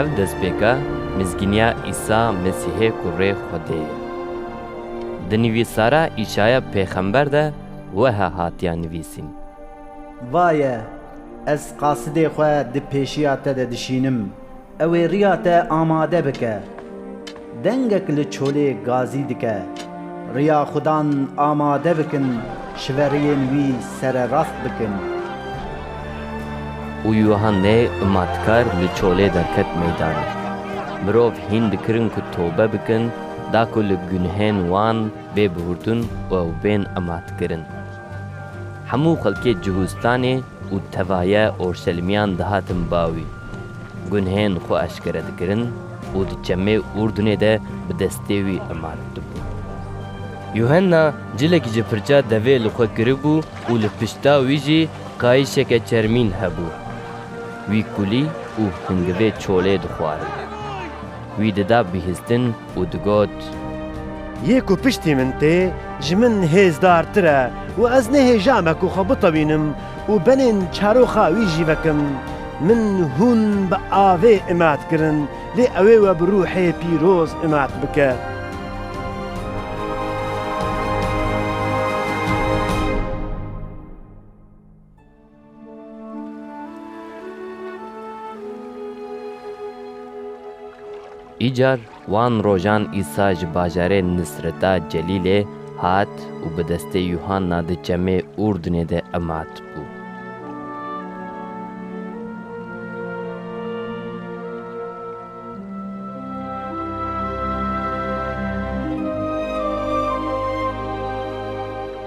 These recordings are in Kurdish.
Ev destpêka mizgîniya Îsa Mesîhê ku rê Xwedê ye. Di nivîsara Îşaya pêxember de weha hatiya nivîsîn, Vaye, ez qasidê xwe di pêşiya te de dişînim, ew ê riya te amade bike. Dengek li çolê gazî dike, Riya xwe dan amade bikin, şiveriyên wî sererast bikin. Û Yuhannê Matkar li çolê derket meydanê. Mirov hîn dikirin ku tobe bikin, da ku li gunhên wan bê bihurtun û ew bên amadkirin. Hemû xelkê Cihûstanê û tevaye Orşelîmiyan dihatin ba wî, gunhên xwe eşkere dikirin û di çemê Urdunê de bi destê wî emaret dibûn. Yuhenna cilekî ji pirça devê li xwe kiribû û li pişta wî jî qayîşeke çermîn hebû. Wî kulî û hingivê çolê dixwarin. Wî dida bihîstin û digot. Yê ku piştî min tê, ji min hêzdartir e û ez nêhêja me ku xwe bitewînim û benên çaroxa wî jî vekim. Min hûn bi avê imat kirin, lê ewê we bi rûhê pîroz imat bike. Îcar wan rojan Îsa ji bajarê Nisreta Celîlê hat û bi destê Yuhanna di çemê Urdinê de emat bû.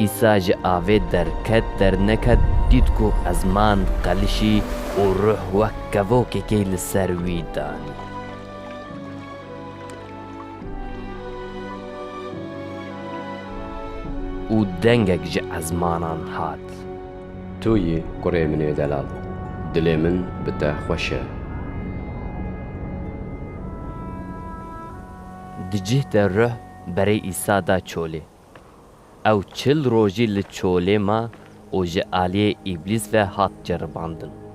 Îsa ji avê derket derneket dît ku ezman diqelişî û ruh wek kevokekê li ser wî danî. Û dengek ji ezmanan hat. Tu yî kurê min ê delal. Dilê min bi te xweş e. Di cih de ruh berê Îsa da çolê. Ew çil rojî li çolê ma û ji aliyê Îblîs ve hat ceribandin.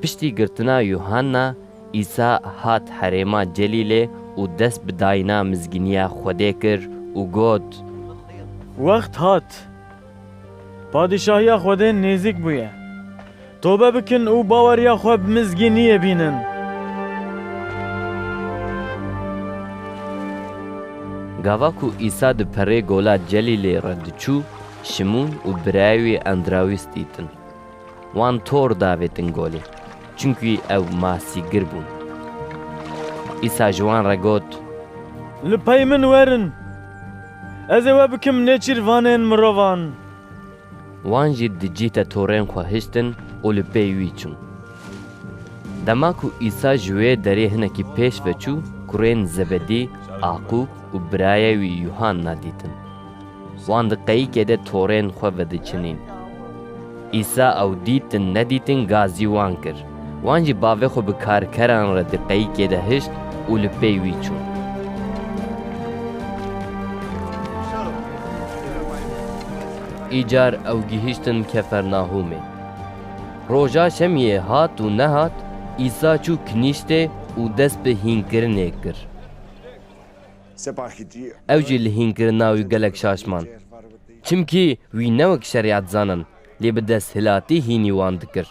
Piştî girtina Yuhanna, Îsa hat herêma Celîlê û dest bi dayîna mizgîniya Xwedê kir û got. Wext hat, Padîşahiya Xwedê nêzîk bûye. Tobe bikin û baweriya xwe bi mizgîniyê bînin. Gava ku Îsa di perê gola Celîlê re diçû, Şimûn û birayê wî Endrawîs dîtin. Wan tor davêtin golê, çimkî ew masîgir bûn. Îsa ji wan re got. Li pey min werin, ez ê we bikim nêçîrvanên mirovan. Wan jî di cî te torên xwe hiştin û li pey wî çûn. Dema ku Îsa ji wê derê hinekî pêş ve çû, kurên Zebedî, Aqûb û birayê wî Yuhanna dîtin. Wan di qeyikê de torên xwe vediçinîn. Îsa ew dîtin nedîtin gazî wan kir. Wan jî bavê xwe bi karkeran re di qeyikê de hişt û li pey wî çûn. Îcar ew gihiştin Kefernahûmê. Roja şemiyê hat û nehat, Îsa çû kinîştê û dest bi hînkirinê kir. Ew jî li hînkirina wî gelek şaş man. Çimkî wî ne wek şerîat zanin. Lê bi desthilatî hînî wan dikir.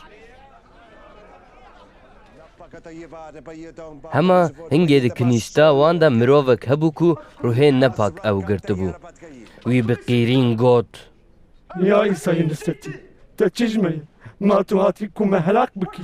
Hema hingê di kinîsta wan de mirovek hebû ku ruhê nepak ew girtibû. Wî bi qîrîn got. Ya Îsayê Nisretî, te çi ji me yî? Ma tu hatî ku me helak bikî?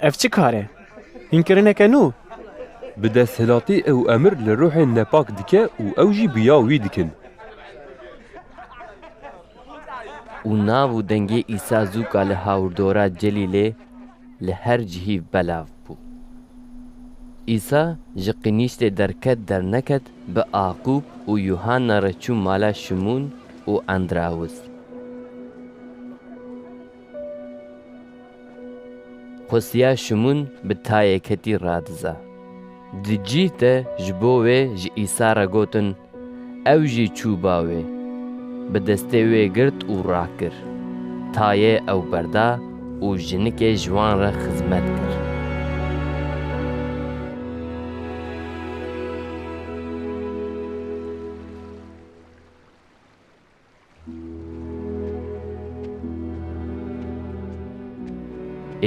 Ev çi kar e? Hînkirineke nû! Bi desthilatê ew emir li ruhên nepak dike û ew jî bi ya wî dikin. Û nav û dengê Îsa zûka li hawirdora Celîlê li her cihî belav bû. Îsa ji qînîştê derket derneket bi Aqûb û Yuhanna re çû mala Şimûn û Endrawis. Xwestiya Şimûn bi tayê ketî radiza. Di cîh de ji bo wê ji Îsa re gotin, ew jî çû ba wê. Bi destê wê girt û rakir. Tayê ew berda û jinikê ji wan re xizmet kir.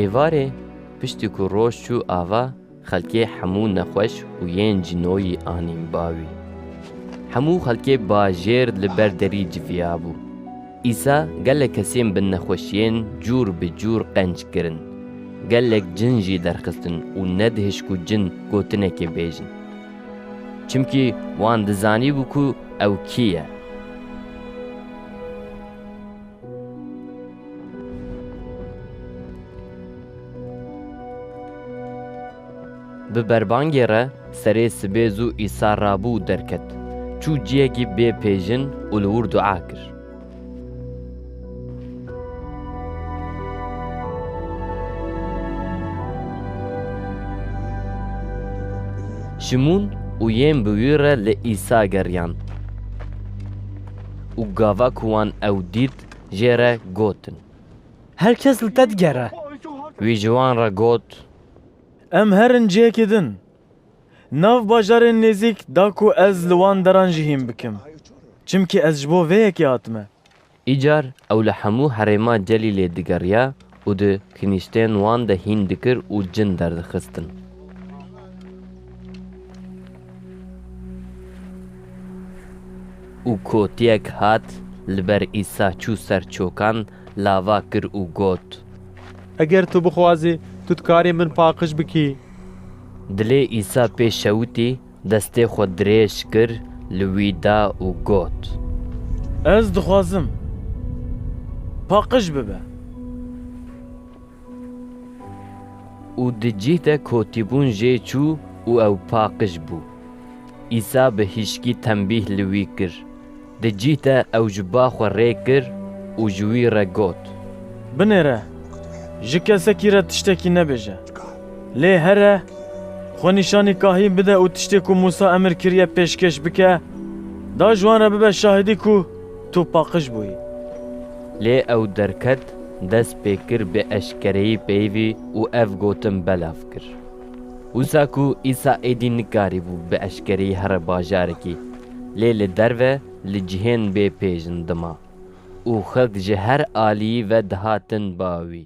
Êvarê piştî ku roj çû ava xelkê hemû nexweş û yên cînoyî anîn ba wî. Hemû xelkê bajêr li ber derî civiyabû. Îsa gelek kesên bi nexweşiyên cûr bi cûr qenc kirin. Gelek cin jî derxistin û nedihişt ku cin gotinekê bêjin. Çimkî wan dizanîbû ku ew kî ye. Bi berbangê re serê sibê zû Îsa rabû û derket. Çû ciyekî bê pêjin û li wir dua kir. Şimûn û yên bi wî re li Îsa geriyan û gava ku wan ew dît jê re gotin. Her kes li te digere. Wî ji wan re got. Em herin cihekê din. Nav bajarên nêzîk da ku ez li wan deran jî hîn bikim. Çimkî ez ji bo vê yekê hatime. Îcar ew li hemû herêma Celîlê digeriya û di kinîştên wan de hîn dikir û cin derdixistin. Û kotiyek hat li ber Îsa çû ser çokan, lava kir û got. Eger tu bixwazî, tu dikarî min paqij bikî. Dilê Îsa pê şewitî, destê xwe dirêj kir, li wî da û got. Ez dixwazim, paqij bibe. Û di cih de kotîbûn jê çû û ew paqij bû. Îsa bi hîşkî tembîh li wî kir. Di cih de ew ji ba xwe rê kir û ji wî re got. Binêre, ji kesekî re tiştekî nebêje. Lê here xwe nîşanî kahîn bide û tiştê ku Mûsa emir kiriye pêşkêş bike, da ji wan re bibe şahidî ku tu paqij bûyî. Lê ew derket, dest pê kir bi eşkereyî peyivî û ev gotin belav kir. Wisa ku Îsa êdî nikarîbû bi eşkereyî here bajarekî, lê li derve li cihên bê pêjin dima û xelk ji her aliyî ve dihatin ba wî.